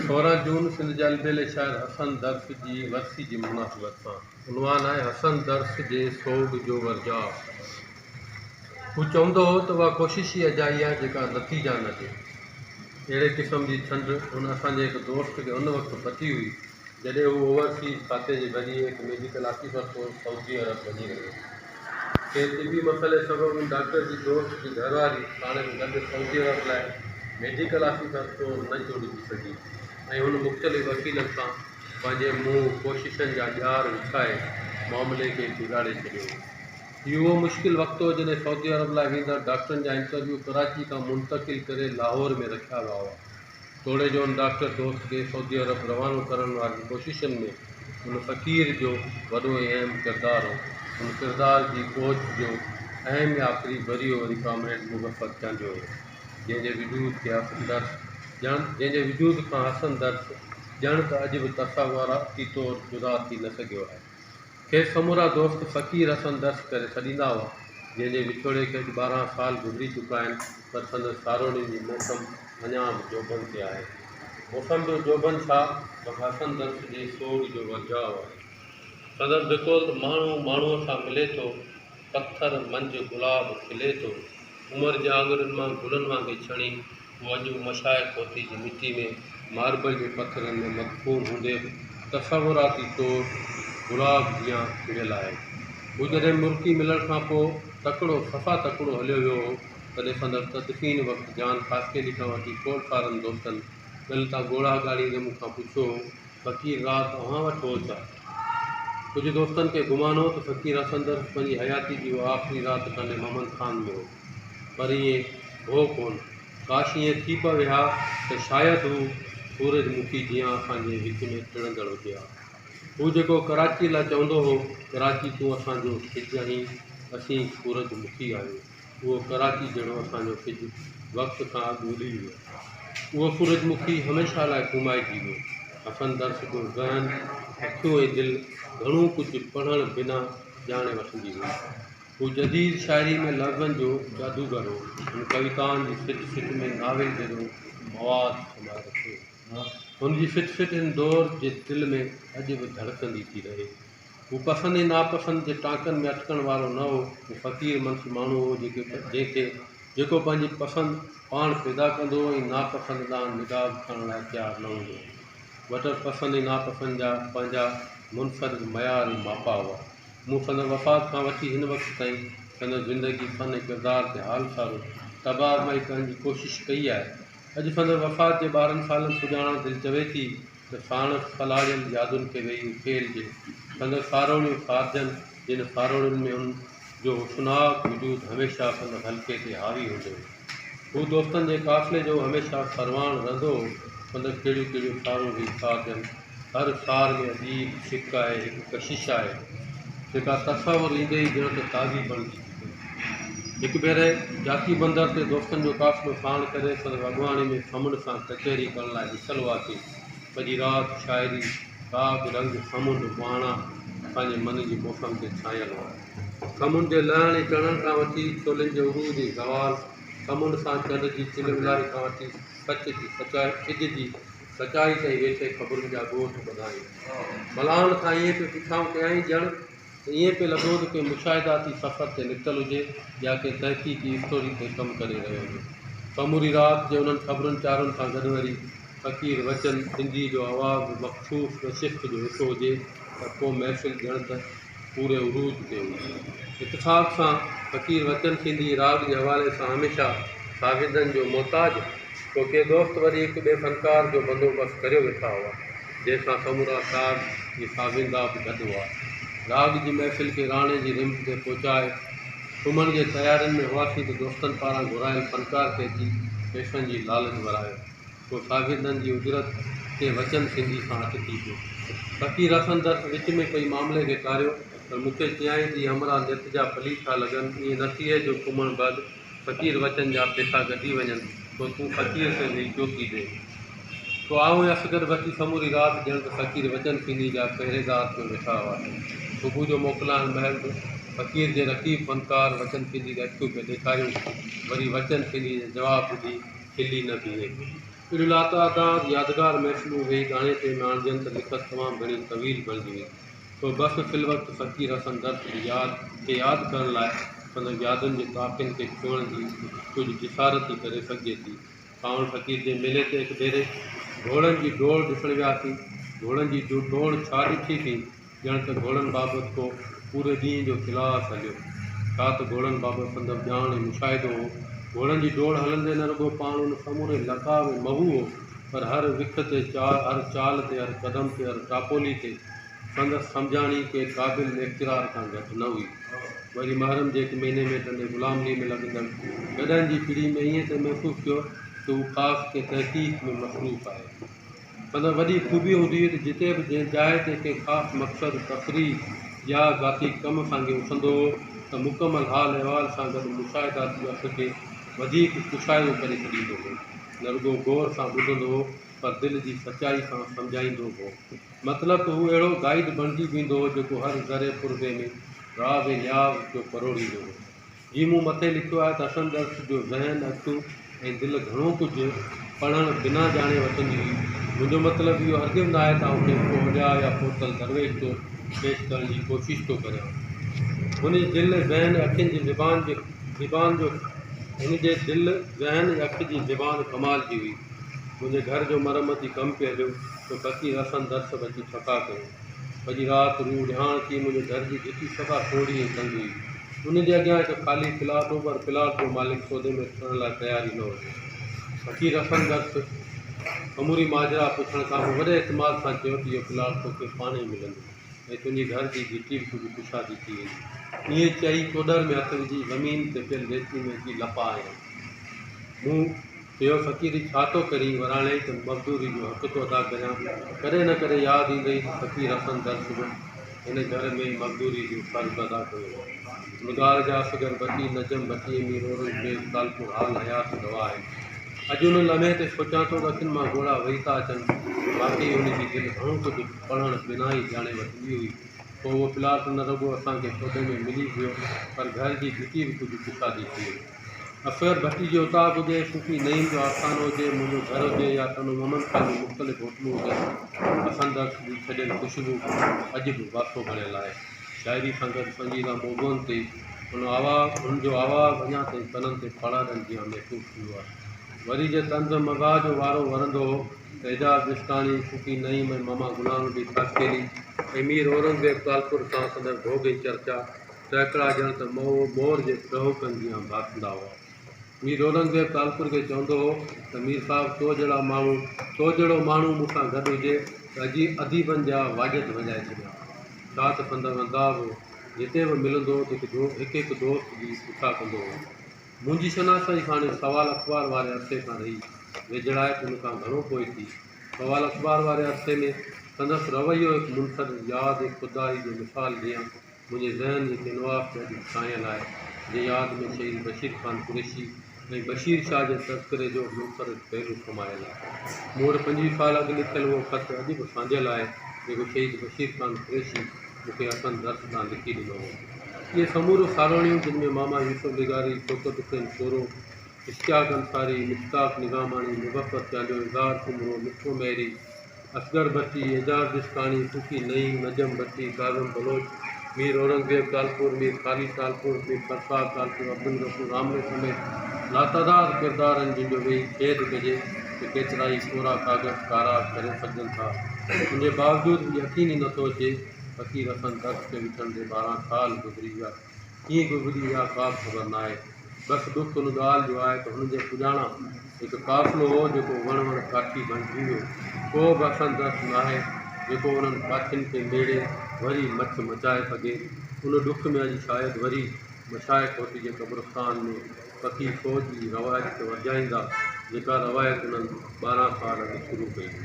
سورهن جون سنڌ جا البيلي شاعر حسن درس جي ورسي جي مناسبت سان عنوان آهي حسن درس جي سوڳ جو ورجاء هو چوندو هو ته اها ڪوشش ئي اجائي آهي جيڪا نتيجا نه ڏي اهڙي قسم جي ڇنڊ هن اسان جي هڪ دوست کي ان وقت پتي هئي جڏهن هو اوورسيز کاتي جي ذريعي هڪ ميڊيڪل آفيسر طور سعودي عرب وڃي رهيو هو. ڪنهن طبي مسئلي سبب ان ڊاڪٽر جي دوست جي گهر واري ساڻس گڏ سعودي عرب لاء ميڊيڪل آفيسر طور نه جوڙجي سگهي ۽ هن مختلف وڪيلن سان پنهنجي منهن ڪوششن جا ڄار وڇائي معاملي کي بگاڙي ڇڏيو هو. هي اهو مشڪل وقت هو جڏهن سعودي عرب لاء ويندڙ ڊاڪٽرن جا انٽرويو ڪراچي کان منتقل ڪري لاهور ۾ رکيا ويا هئا. توڙي جو ان ڊاڪٽر دوست کي سعودي عرب روانو ڪرڻ وارين ڪوششن ۾ ان فقير جو وڏو ۽ اهم ڪردار هو. ان ڪردار جي پهچ جو اهم ۽ آخري ذريعو وري ڪامريڊ مظفر چانڊيو هو، جنهن جي وجود کي حسن درس ڄڻ جنهن جي وجود کان حسن درس ڄڻ ته اڄ به تصوراتي طور جدا ٿي نه سگهيو آهي. کيس سمورا دوست فقير حسن درس ڪري سڏيندا هئا، جنهن جي وڇوڙي کي اڄ ٻارهن سال گذري چڪا آهن، پر سندس ساروڻين جي موسم اڃان به جوڀن تي آهي. موسم جو جوڀن ڇا، پر حسن درس جي سوڳ جو ورجاء آهي. سندس بقول ته ماڻهو ماڻهوء سان ملي ٿو، پٿر منجهه گلاب کلي ٿو، عمر جي آڱرين مان گلن وانگي ڇڻي هو اڄ به مشاهه کوتي جي مٽي ۾ ماربل جي پٿرن ۾ مدفون هوندي به تصوراتي طور گلاب جيان کڙيل آهي. هو جڏهن مرڪي ملڻ کان پوء تڪڙو صفا تڪڙو هليو ويو هو، تڏهن سندس تدفين وقت جان خاصخيلي کان وٺي کوڙ سارن دوستن ڳل تان ڳوڙها ڳاڙيندي مون کان پڇيو هو، فقير رات اوهان وٽ هو ڇا؟ ڪجهه دوستن کي گمان هو ته فقير اسندس پنهنجي حياتي جي اها آخري رات ڪنهن ممن خان ۾ هو. پر ائين هو ڪونه. ڪاش ائين ٿي پوي ها ته شايد هو سورج مکي جيان اسان جي وچ ۾ ٽڙندڙ هجي ها. هو جيڪو ڪراچيء لاء چوندو هو، ڪراچي تون اسان جو سج آهين، اسين سورج مکي آهيون. اهو ڪراچي جهڙو اسان جو سج وقت کان اڳ اڏي ويو. اهو سورج مکي هميشه لاء ڪومائجي ويو. حسن درس جو ذهن، اکيون ۽ دل گهڻو ڪجهه پڙهڻ بنا ڄاڻي وٺندي هئي. هو جديد شاعريء ۾ لفظن جو جادوگر هو. هن ڪويتائن جي ڦٽ ڦٽ ۾ ناول جيڏو مواد سمائي رکيو هو. هن جي ڦٽ ڦٽ هن دور جي دل ۾ اڄ به ڌڙڪندي ٿي رهي. هو پسند ۽ ناپسند جي ٽانڪن ۾ اٽڪڻ وارو نه هو. هو فقير منش ماڻهو هو، جنهن کي جيڪو پنهنجي پسند پاڻ پيدا ڪندو هو ۽ ناپسند ڏانهن نگاهه به ڪرڻ لاء تيار نه هوندو هو. وٽس پسند ۽ ناپسند جا پنهنجا منفرد معيار ۽ ماپا هئا. مون سندس وفات کان وٺي هن وقت تائين سندس زندگي، فن ۽ ڪردار تي حال سارو تبار مئي ڪرڻ جي ڪوشش ڪئي آهي. اڄ سندس وفات جي ٻارهن سالن پڄاڻان دل چوي ٿي ته ساڻس سلهاڙيل يادن کي ويهي اڪيلجي. سندس ساروڻيون سارجن، جن ساروڻين ۾ هن جو حسناڪ وجود هميشه سندس حلقي تي حاوي هوندو هو. هو دوستن جي قافلي جو هميشه سرواڻ رهندو هو. سندس ڪهڙيون ڪهڙيون ساروڻيون سارجن! هر سار ۾ عجيب سڪ آهي، هڪ ڪشش آهي، جيڪا تصور ايندي ئي ڄڻ ته تازي بڻجي ٿي پئي. هڪ ڀيري جاکي بندر تي دوستن جو قافلو ساڻ ڪري سندس اڳواڻي ۾ سمنڊ سان ڪچهري ڪرڻ لاء ويٺل هئاسين. سڄي رات شاعري، راڳ، رنگ، سمنڊ، وهاڻا اسانجي من جي موسم تي ڇانيل هئا. سمنڊ جي لهڻ ۽ چڙهڻ کان وٺي ڇولين جي عروج ۽ زوال، سمنڊ سان چنڊ جي چلملائي کان وٺي سچ جي سچائي، سج جي سچائي سائين ويٺي خبرن جا ڳوٺ ٻڌائين. ملاحن کان ائين پئي پڇائون ڪيائين ڄڻ ته ائين پئي لڳو ته ڪنهن مشاهداتي سفر تي نڪتل هجي يا ڪنهن تحقيقي اسٽوري تي ڪم ڪري رهيو هجي. سموري رات جي انهن خبرن چارن سان گڏ وري فقير وچن سنڌيء جو آواز به مخصوص نشست جو حصو هجي ته پوء محفل ڄڻ ته پوري عروج تي هئي. اتفاق سان فقير وچن سيندي راڳ جي حوالي سان هميشه شاگردن جو محتاج هو. ڪي دوست وري هڪ ٻئي فنڪار جو بندوبست ڪريو ويٺا هئا، جنهن سان سمورا ساز جي سازيندا به گڏ هئا. راڳ جي محفل کي راڻي جي رنب تي پهچائي سمهڻ جي تيارين ۾ هئاسين ته دوستن پاران گهرايل فنڪار کي اچي پيشن جي لالچ ورايو. پوء شاگردن جي اجرت تي وچن سنڌي سان هٿ ٿي پيو. فقير حسن درس وچ ۾ پئي معاملي کي ٽاريو، پر مون کي چيائين جي همراهه نت جا ڦلي ٿا لڳن، ائين نصيحي جو سمهڻ بعد فقير وچن جا پيسا ڳنڍي وڃن، سو تون فقير تي ويهي چوڪي ڏي. سو آئون ۽ اصغر بخشي سموري رات ڄڻ ته فقير وچن سنڌي جا پهريدار ٿيو ويٺا هئاسين. صبح جو موڪلائڻ مهل به فقير جي رقيب فنڪار وچن سنڌي کي اکيون پئي ڏيکاريون، وري وچن سنڌي جا جواب ٻڌي کلي نه بيهي. اهڙيون لاتعداد يادگار محفلون ويهي ڳاڻي تي ناڻجن ته لکت تمام گهڻي طويل بڻجي ويندي. پر بخت في الوقت فقير حسن درس جي ياد کي ياد ڪرڻ لاء سندن يادن جي ڪافين کي ڇهڻ جي ڪجهه جسارت ئي ڪري سگهجي ٿي. ڪانوڙ فقير جي ميلي تي هڪ ڀيري گهوڙن جي ڊوڙ ڏسڻ وياسين. گهوڙن جي ڊوڙ ڇا ڏٺيسين. ڄڻ ته گهوڙن بابت ڪو پوري ڏينهن جو خلاص هليو. ڇا ته گهوڙن بابت سندس ڄاڻ ۽ مشاهدو هو. گهوڙن جي ڊوڙ هلندي نه رڳو پاڻ ان سموري لقاء ۾ محو هو، پر هر وک تي، هر چال تي، هر قدم تي، هر ٽاپولي تي سندس سمجهاڻي ڪنهن قابل نيڪچرار کان گهٽ نه هئي. وري محرم جيڪ مهيني ۾ ٽنڊي غلام علي ۾ لڳندڙ گڏهن جي پڙي ۾ ائين ٿي محسوس ٿيو ته هو خاص ڪنهن تحقيق ۾ مصروف آهي. معنيٰ وڏي خوبي هوندي هئي ته جتي به جنهن جاء تي ڪنهن خاص مقصد، تفريح يا ذاتي ڪم سانگي اٿندو هو ته مڪمل حال احوال سان گڏ مشاهداتي اک کي وڌيڪ ڪشايو ڪري ڇڏيندو هو. نه رڳو غور سان ٻڌندو هو پر دل جي سچائي سان سمجهائيندو هو. مطلب ته هو اهڙو گائيڊ بڻجي بيهندو هو جيڪو هر ذري پرزي ۾ راز ۽ نياز جو پروڙيندو هو. جيئن مون مٿي لکيو آهي ته اسند درس جو ذهن، اکيون ۽ دل گهڻو ڪجهه پڙهڻ بنا ڄاڻي وٺندي هئي. منهنجو مطلب اهو هرگز ناهي ته آئون ڪنهن ڪو اجايو يا پوتل درويش جو پيش ڪرڻ جي ڪوشش ٿو ڪريان. هن جي دل، ذهن، اکين جي زبان جي زبان جو هن جي دل، ذهن ۽ اک جي زبان ڪمال جي هئي. منهنجي گهر جو مرمتي ڪم پئي هليو سو فقير اسند درس به اچي ڇڪاء ڪيو. سڄي رات روح ڄاڻ ٿي منهنجو گهر جي گهٽي صفا سوڙهي ۽ تنگ هئي. ان جي اڳيان هڪ خالي پلاٽ هو پر پلاٽ جو مالڪ سودي ۾ کڻڻ لاء تيار ئي نه هو. ڀٽي رسم درس سموري ماجرا پڇڻ کان پوء وڏي اعتماد سان چيو ته اهو پلاٽ توکي پاڻ ئي ملندو ۽ تنهنجي گهر جي گهٽي به تنهنجي ڪشادي ٿي ويندي. ائين چئي چوڏهر ۾ هٿ وجهي زمين تي پيل ريتي ۾ اچي لپا آيم. مون. اهو فقيري ڇا ٿو ڪرين وراڻيائين ته مزدوري جو حق ٿو ادا ڪريان ڪڏهن نه ڪڏهن ياد ايندئي ته فقير حسن درس به هن گهر ۾ مزدوري جو فرض ادا ڪيو هو نگار جا اصغر ڀٽي نجم ڀٽي مير اورنگ زيب ٽالپور حال حيات گواهه آهن اڄ ان لمحي تي سوچان ٿو ته اکين مان ڳوڙها وهي ٿا اچن واقعي هن جي دل گهڻو ڪجهه پڙهڻ بنا ئي ڄاڻي وٺندي هئي پوء اهو پلاٽ نه رڳو اسان کي سودي ۾ ملي ويو پر گهر جي ڀتي به ڪجهه ڪشادي ٿي وئي اسغر ڀٽي جي اوطاق هجي، صوفي نعيم جو آستانو هجي، منهنجو گهر هجي يا ڪنو محمد خان جون مختلف هوٽلون هجن، پسند عڪس جي کليل خوشبو اڄ به واسو ڀريل آهي. شاعري سان گڏ سنجيده موضوعن تي هن آوا هن جو آواز اڃا تائين ڪنن تي پڙاڏن جيان محسوس ٿيندو آهي. وري جي طنز مزاح جو وارو ورندو هو ته اعجاز عشقاڻي، صوفي نعيم ۽ ماما غلام نبي ساکيلي ۽ مير اورنگزيب ٽالپر سان سندس ڀوڳ ۽ چرچا سيڪڙا ڄڻ ته مئو مور جي ٽهوڪن جيان ڀاڪندا هئا. مير اورنگزيب ٽالپر کي چوندو هو ته مير صاحب تو جهڙا ماڻهو تو جهڙو ماڻهو مون سان گڏ هجي ته اڄ ئي اديبن جا واجهت وڄائي ڇڏيان ها. شاهه سڪندر رضا به جتي به ملندو هو ته هڪ دو هڪ هڪ دوست جي پڇا ڪندو هو. منهنجي شناسائي هاڻي سوال اخبار واري عرصي کان رهي ويجهڙائپ ان کان گهڻو پوء ٿي. سوال اخبار واري عرصي ۾ سندس رويو هڪ منفرد ياد خودداري جي مثال جيان منهنجي ذهن جي ڪينواس تي اڄ ڇانيل آهي، جنهن ياد ۾ شهيد بشير خان قريشي ۽ بشير شاهه جي تذڪري جو منفرد پهلو سمايل آهي. مون وٽ پنجويهه سال اڳ لکيل اهو خط اڄ به سانڍيل آهي، جيڪو شهيد بشير خان قريشي مون کي حسن درس ڏانهن لکي ڏنو هو. اهي سموريون ساراڻيون، جن ۾ ماما يوسف لغاري، شوڪت حسين شورو، اشتياق انصاري، مشتاق نظاماڻي، مظفر چاليو، اظهار سومرو، مٺو مهري، اصغر بٽي، اعجاز دشتاڻي، صوفي نعيم، نجم بٽي، ڪاظم بلوچ، مير اورنگزيب ٽالپور، مير خالد ٽالپور، مير سرفراز ٽالپور، عبدالغفور راملو سميت لاتعداد ڪردارن جن جو ويهي قيد ڪجي ته ڪيترائي ڪورا ڪاغذ ڪارا ڪري سگهجن ٿا. ان جي باوجود به يقين ئي نٿو اچي فقير حسن بخش کي وڇڙندي ٻارهن سال گذري ويا. ڪيئن گذري ويا ڪا به خبر ناهي. بس ڏک ان ڳالهه جو آهي ته هن جي پڄاڻان هڪ قافلو هو جيڪو وڻ وڻ ڪاٺي بڻجي ويو. ڪو به اسان درس ناهي جيڪو انهن ڪاٺين کي ميڙي وري مڇ مچائي سگهي. ان ڏک ۾ اڄ شايد وري مشائخ هوتي جي قبرستان ۾ پڪي فوج جي روايت کي ورجائيندا جيڪا روايت انهن ٻارهن سال اڳ شروع ڪئي هئي.